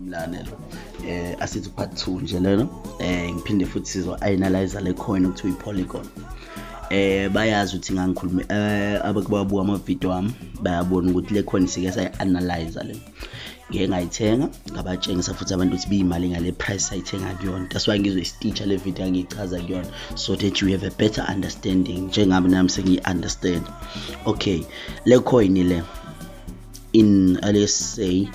mlalelo eh asithi part 2 nje lelo eh ngiphinde futhi sizo analyze le coin ukuthi uyipolygon eh bayazi ukuthi ngangikhuluma eh abakubabu ama video wami bayabona ukuthi le coin sike sayi analyze le ngeke ngayithenga ngabatshengisa futhi abantu ukuthi biyimali ngale price ayithenga kuyona that's why ngizwe isiteacher le video angiyichaza kuyona so that you have a better understanding njengami nami sengiyi understand okay le coin le in uh, let's say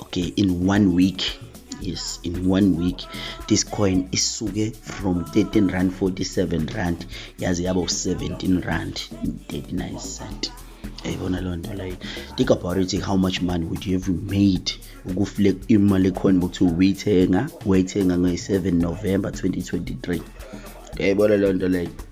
okay in one week yes in one week this coin isuke from 13 rand 47 rand yaze yaba u-17 rand 39 cent yayibona loo nto like think about it how much money would you have made ukufile imali ekhona ukuthi uyithenga wayithenga ngoyi-7 november 2023 yayibona loo nto like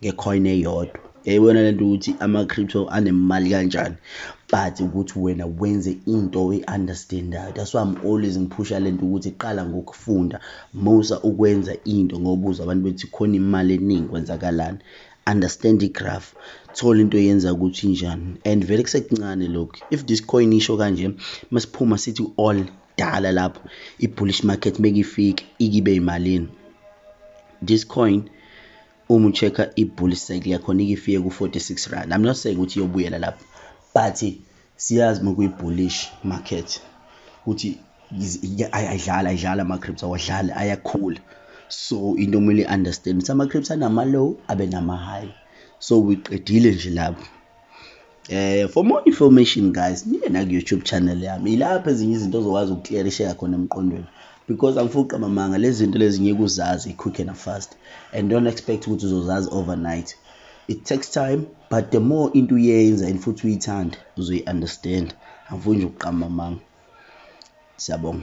ngecoin eyodwa yayibona lento ukuthi ama-crypto anemali kanjani but ukuthi wena wenze into oyi-understandayo that's why i'm always ngiphusha lento ukuthi qala ngokufunda musa ukwenza into ngobuza abantu bethi khona imali eningi kwenzakalani understand igraph thola into yenza ukuthi njani and vele kusekuncane lokhu if this coin isho kanje masiphuma sithi all dala lapho i-bullish market mekifike ikibe yimalini this coin uma ucheck-a i-bull cycle yakhona ike ifike ku-46 rand i'm not saying ukuthi iyobuyela lapho but siyazi uma kuyi-bullish market ukuthi ayidlali ayidlali ama-crips awadlali ayakhula so into omele i-understand ukuthi ama-crips anama-low abe nama-high so uyiqedile nje lapho Eh for more information guys niye na YouTube channel yami ilapha ezinye izinto ozokwazi ukuclearisheka khona emqondweni because angifuqa mamanga lezi zinto lezi ngeke uzazi quick and fast and don't expect ukuthi uzozazi overnight it takes time but the more into uyenza and futhi uyithanda uzoyi understand angifuni nje ukuqamba mamanga siyabonga